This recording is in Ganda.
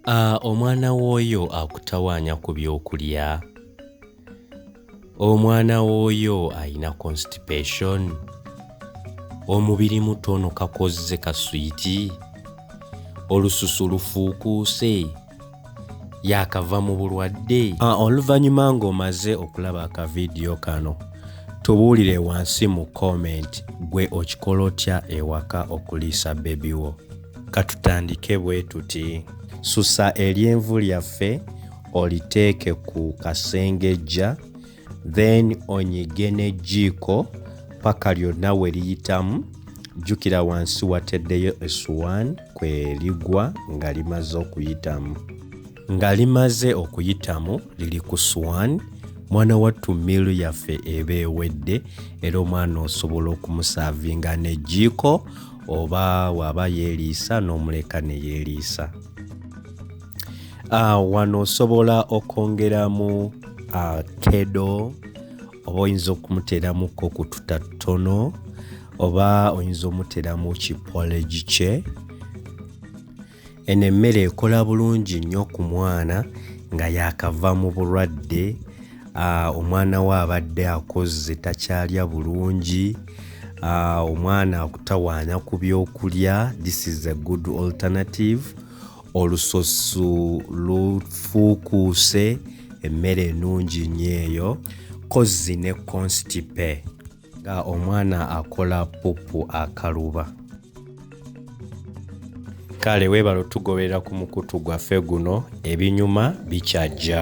Ah, omwana w'oyo akutawaanya ku by'okulya omwana w'oyo alina constipation omubiri mutono kakozze kaswiti olususu lufuukuuse yaakava mu bulwadde ah, oluvannyuma ng'omaze okulaba akavidiyo kano tubuulire wansi mu comment gwe okikola otya ewaka okuliisa bebi wo Katutandike bwe tuti, Susa eryenvu lyaffe oliteeke ku kasengejja then onyige n'ejjiiko paka lyonna we liyitamu. Jjukira wansi wateddeyo essuwaani kwe ligwa nga limaze okuyitamu. nga limaze okuyitamu liri ku swan mwana wattu miilu yaffe eba ewedde era omwana osobola okumusaavinga n'ejjiiko oba waaba yeeriisa n'omuleka ne yeeriisa ah, wano osobola okwongeramu ah, kedo oba oyinza okumuteeramuko ku tuta ttono oba oyinza omuteeramu kipoleji kye Eno emmere ekola bulungi nnyo ku mwana nga yaakava mu bulwadde, omwana we abadde akozze takyalya bulungi, omwana akutawaanya ku byokulya, this is a good alternative, olususu lufuukuuse, emmere ennungi nnyo eyo, kozzi ne constipe. nga omwana akola pupu akaluba kale weebala otugoberera ku mukutu gwaffe guno ebinyuma bikyajja